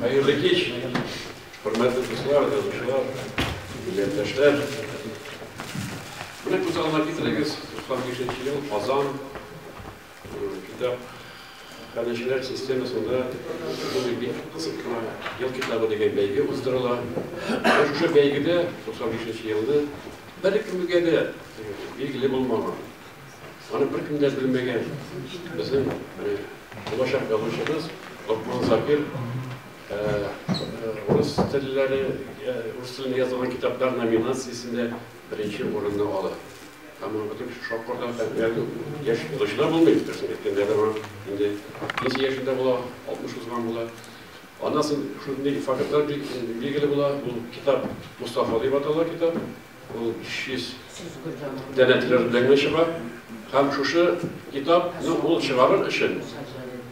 Хәерле кич, хөрмәтле дуслар, язучылар, милләттәшләр. Менә күз алдына китерегез, 95 ел Казан китап хәләчеләр системасында шундый бик кызык кына ел китабы дигән бәйге уздырыла. Шушы бәйгедә 95 елны бер кемгә дә билгеле булмаган Аны беркем дә белмәгән безнең менә булачак язучыбыз Локман Закир э, э, урыс телләре, э, урыс телендә язылган китаплар номинациясендә беренче урынны ала. Һәм ул бөтен шокорда һәм яшь язучылар булмый, берсен әйткәндә дә бар. Инде ничә яшендә була, 60 узган була. Аннан соң шундый фактлар билгеле була, ул китап Мустафа дип атала китап, Ул 500 данә тираж белән генә чыга. Һәм шушы китапны ул чыгарыр өчен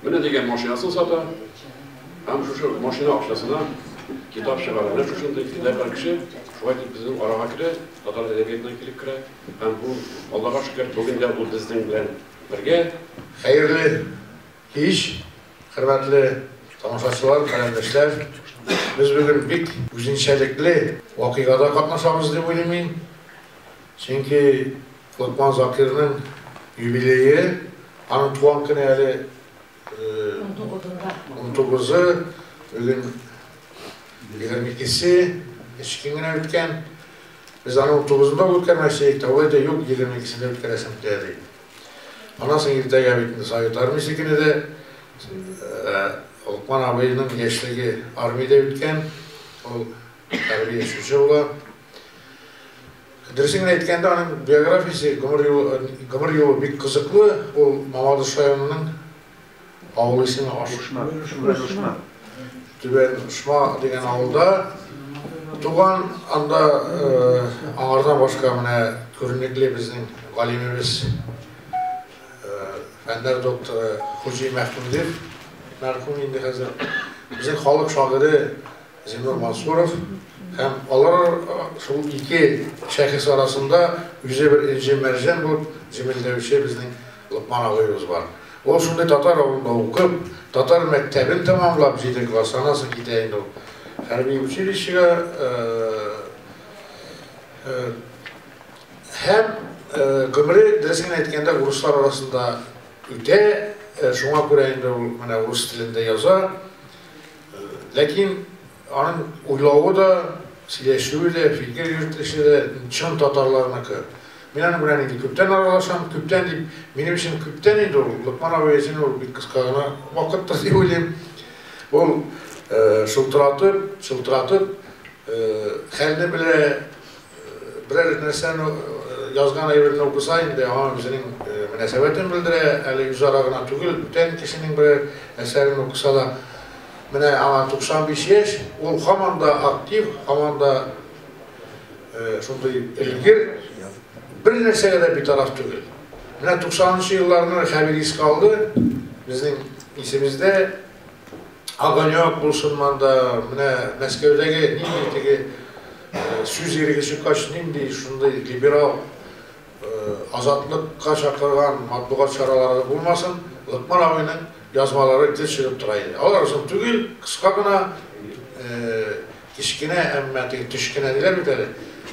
менә дигән машинасын сата. Һәм шушы машина акчасына китап чыгара. Менә шушындый фидакарь кеше шулай дип безнең арага керә, татар әдәбиятына килеп керә. Һәм бу, Аллага шөкер, бүген дә ул безнең белән бергә. Хәерле Кич, хөрмәтле тамашачылар, каләмдәшләр! Без бүген бик үзенчәлекле вакыйгада катнашабыз дип уйлыйм мин. Чөнки Локман Закирның юбилее, аның туган көне әле унтугызы, бүген егерме икесе, өч көн генә үткән. Без аны унтугызында үткәрмәкче идек, тәүге әйтә, юк, егерме икесендә үткәрәсем килә, ди. Аннан соң иртәгә бит инде Совет Армиясе көне дә. Ә Локман абыйның яшьлеге армиядә үткән. Ул хәрби очучы була. Дөресен генә әйткәндә, аның биографиясе, гомер юлы, гомер юлы бик кызыклы. Ул Мамадыш районының Авылыйсын Ашышма, Шүрәле Ошма, Түбән Ошма дигән авылда туган. Анда аңардан башка менә күренекле безнең галимебез, фәннәр докторы Хуҗи Мәхмүдев, мәрхүм инде хәзер, безнең халык шагыйре Зиннур Мансуров һәм алар шул ике шәхес арасында үзе бер энҗе-мәрҗән булып җемелдәүче безнең Локман абыебыз бар. Ул шундый татар авылында укып, татар мәктәбен тәмамлап, җиде класс, аннан соң китә инде ул хәрби училищега. Һәм гомере, дөресен әйткәндә, урыслар арасында үтә, шуңа күрә инде ул менә урыс телендә яза. Ләкин. Аның уйлавы да, сөйләшүе дә, фикер йөртелеше дә чын татарларныкы. Мин аның белән инде күптән аралашам. Күптән дип, минем өчен күптән инде ул. Локман абый өчен ул бик кыска гына вакыттыр дип уйлыйм. Ул шылтыратып, чылтыратып хәлне белә, Берәр нәрсәне язган әйберне укыса инде аңа үзенең мөнәсәбәтен белдерә, әле үзара гына түгел, бүтән кешенең берәр әсәрен укыса да. Менә аңа 95 яшь, ул һаман да актив, һаман да шундый өлгер, бер нәрсәгә дә битараф түгел. Менә 90 нчы елларны Хәбир искә алды, безнең исебездә, Огонёк булсын монда, менә Мәскәүдәге нинди теге сүз иреге чыккач, нинди шундый либерал, азатлыкка чакырган матбугат чаралары булмасын, Лыкман абыйның язмалары гел чыгып тора иде. Алар озын түгел, кыска гына, кечкенә, әмма теге төш кенә диләр бит әле,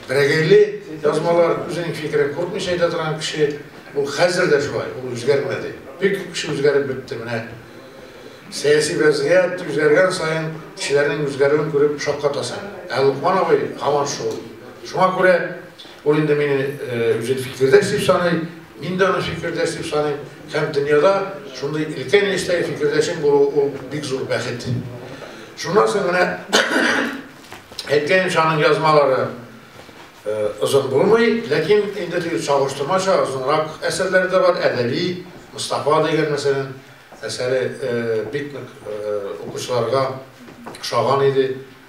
берәгәйле язмалар, үзенең фикерен куркмыйча әйтә торган кеше, ул хәзер дә шулай, ул үзгәрмәде. Бик күп кеше үзгәреп бетте, менә. Сәяси вәзгыять үзгәргән саен кешеләрнең үзгәрүен күреп шаккатасың. Ә Локман абый һаман шул. Шуңа күрә ул инде мине үзен фикердәш дип саный, мин дә аны фикердәш дип саныйм. Һәм дөньяда шундый өлкән яшьтәге фикердәшең булуы ул бик зур бәхет. Шуннан соң менә әйткәнемчә аның язмалары озын булмый, ләкин инде теге чагыштырмача озынрак әсәрләре дә бар, Әдәби, Мостафа дигән мәсәлән. Әсәре бик нык укучыларга ошаган иде,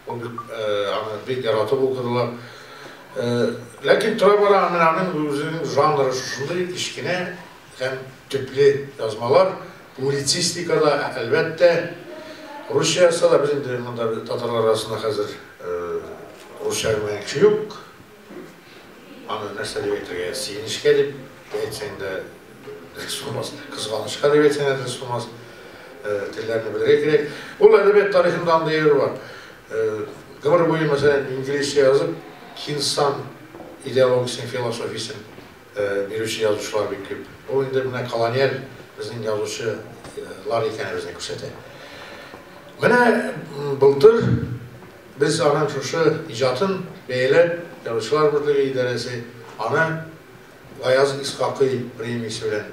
аны бик яратып укыдылар. Ләкин тора-бара менә аның үзенең жанры шушындый кечкенә һәм төпле язмалар, публицистика да, әлбәттә, русча язса да, без инде монда татарлар арасында хәзер русча белмәгән кеше юк. Аны нәрсә дип әйтергә? Сөенечкә дип әйтсәң дә дөрес булмас, кызганычка дип әйтсәң дә дөрес булмас. Телләрне белергә кирәк. Ул әдәбият тарихында андый әйбер бар. Гомер буе, мәсәлән, инглизчә язып, Кинсан идеологиясен, философиясен Бирүче язучылар бик күп. Бу инде менә колониаль безнең язучы лар икәнебезне күрсәтә. Менә былтыр без аның шушы иҗатын бәяләп, Язучылар берлеге идарәсе аны Гаяз Исхакый премиясе белән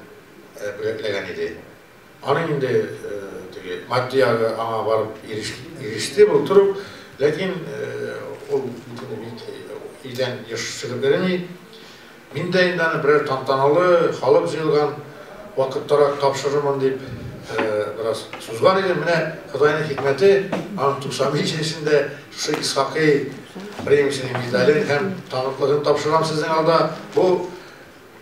бүләкләгән иде. Аның инде теге матди ягы аңа барып иреште булдырып, ләкин ул битене бит өйдән еш чыгып йөреми. Мин дә инде аны берәр тантаналы, халык җыелган вакыттарак тапшырырмын дип бераз сузган идем. Менә Ходайның хикмәте, аның 95 яшендә шушы Исхакый премиясенең медален һәм таныклыгын тапшырам сезнең алда. Бу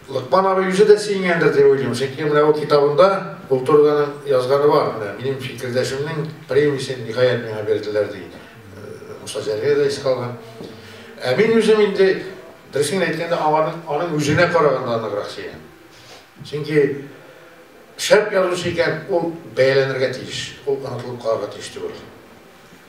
Лыкман абый үзе дә сөенгәндер дип уйлыйм, чөнки менә ут китабында ул турыда язганы бар, менә минем фикердәшемнең премиясен ниһаять миңа бирделәр, ди. Муса Җәлилгә дә искә алган. Ә мин үзем инде, дөресен генә әйткәндә, аңарның аның үзенә караганда ныграк сөенәм. Чөнки шәп язучы икән, ул бәяләнергә тиеш, ул онытылып калырга тиеш түгел.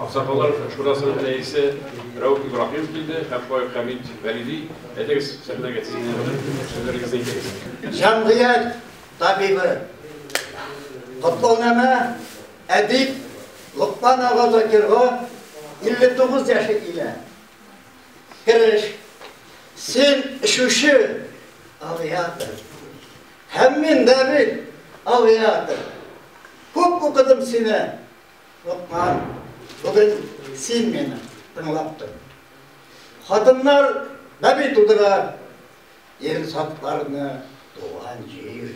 Аксакаллар шурасының рәисе Рәүф Ибраһимов килде һәм Фаик Хәмит Вәлиди, әйдәгез сәхнәгә сезнең сүзләрегезне әйтегез. Җәмгыять табибы, котлаунамә әдип Локман ага Закирга 59 яше килә. Кереш, син эчүче авиатор. Һәм мин дә бит авиатор. Күп укыдым сине, Локман, бүген син мине тыңлап тор. Хатыннар бәби тудыра, ир затларны туган җир.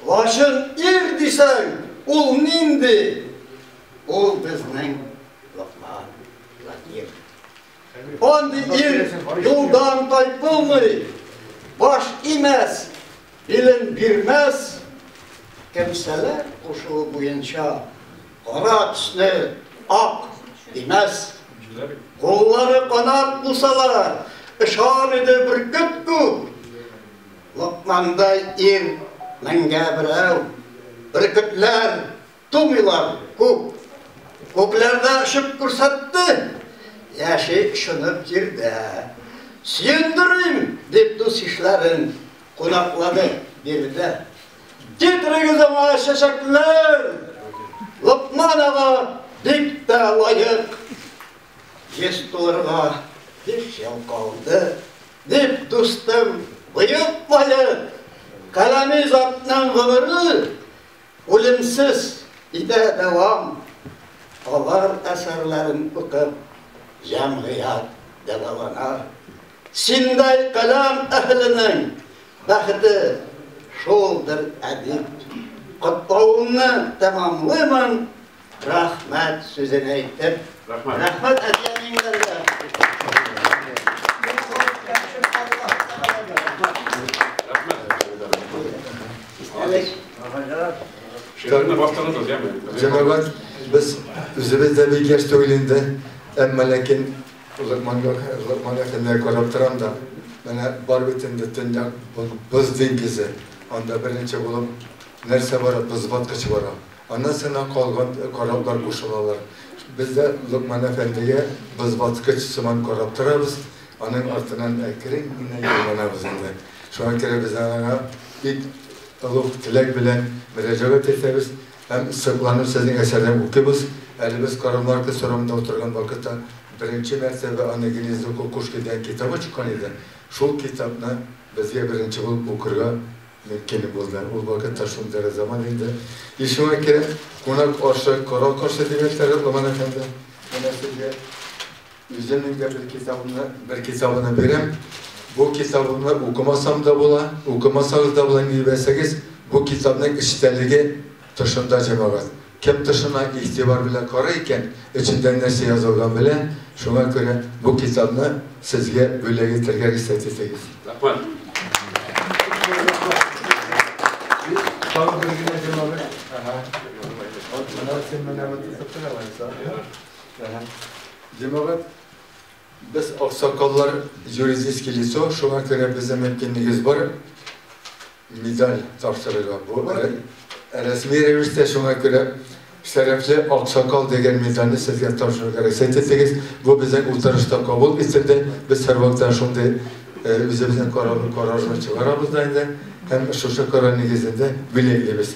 Лачын ир дисәң, ул нинди? Ул безнең Локман, Владимир. Андый ир юлдан тайпылмый, баш имәс, билен бирмәс. Кемсәләр кушуы буенча кара төсне ак димәс. Куллары канат булсалар, ышар иде бөркет күп. Локмандай ир меңгә берәү, бөркетләр Тумыйлар күп. Күкләр дә очып күрсәтте. Яши шынып җирдә. Сөендерим, дип дус-ишләрен кунаклады биредә. Китерегез аңа чәчәкләр! Локман ага бик тә лаек. Йөз тулырга биш ел калды, дип дустым боекмаеп, каләми затның гомере Үлемсез итә дәвам Алар әсәрләрен укып Җәмгыять дәвалана Синдәй каләм әһеленең Бәхете шулдыр әдип Котлавымны тәмамлыймын Рәхмәт сүзен әйтеп. Рәхмәт. Рәхмәт әти-әниләргә. Шигырьне баштырдыгыз, яме. Җәмәгать, без үзебез дә бик яшь түгел инде, әмма ләкин озакманга озакманга хәлләр карап торам да. Менә бар бит инде төньяк боз диңгезе. Анда беренче булып нәрсә бара? Боз баткыч бара. Анасына калган кораблар кушылалар. Без дә Локман әфәндегә бозбаткыч сыман карап торабыз, аның артыннан әкрен генә юлланабыз инде. Шуңа күрә без аңа бик олуг теләк белән мөрәҗәгать итәбез һәм сокланып сезнең әсәрне укыйбыз. Әле без Карамарка сорамында утырган вакытта беренче мәртәбә аны Гнездо кукушки дигән китабы чыккан иде, шул китапны безгә беренче булып укырга Ник килеп булды? Ул вакытта шундый гы заман инде. Ишегемә кереп, кунак ашы, корал кашы дигән шәгырь Ломан әфәнде, менә сезгә үземнең дә бер китабымны, бер китабыны бирәм. Бу китабымны укымасам да була, укымасагыз да була, ни белсәгез, бу китапның эчтәлеге тышында, җәмәгать. Кем тышына игътибар белән карый икән, эчендә нәрсә язылган белә, шуңа күрә бу китапны сезгә бүләк итәргә рөхсәт итегез. Рәхмәт. Тагын бер генә җырлабыз. Әһә. Менә син менә бу тусыктан алайса. Әһә. Җәмәгать, без аксакаллар юридический лицо, шуңа күрә безнең мөмкинлегебез бар. медаль тапшырырга. Бу рәсми рәвештә, шуңа күрә Шәрәфле аксакал дигән медальне сезгә тапшырырга рөхсәт итегез. Бу безнең утырышта кабул ителде. Без һәрвакытта шундый үзебезнең карарыбызны чыгарабыз да инде һәм шушы карар нигезендә билгелибез.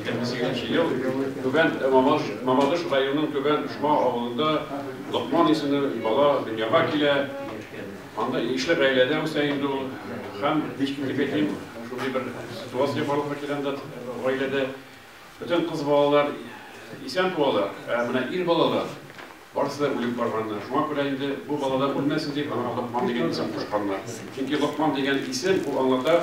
Сигезенче ел Түбән Мамадыш районының Түбән Пошма авылында Локман исемле бала дөньяга килә. Анда ишле гаиләдә үсә инде ул. Һәм, дип әйтим, шундый бер ситуация барлыкка килә анда гаиләдә. Бөтен кыз балалар исән туалар, ә менә ир балалар барысы да үлеп барганнар. Шуңа күрә инде бу балалар үлмәсен дип, аңа Локман дигән исем кушканнар. Чөнки Локман дигән исем, ул аңлата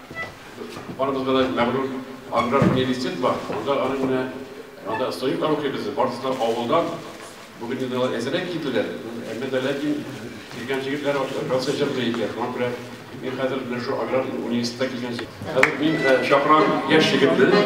Барыбызга да мәгълүм аграр университет бар. Монда аның менә анда студент укый безнең. Барысы да авылдан. Бүген инде алар әзрәк килделәр. Әмма дә ләкин килгән җегетләр берсе җырлый икән. Шуңа күрә мин хәзер менә шул аграр университетка килгән җегет. Хәзер мин чакырам яшь егетне.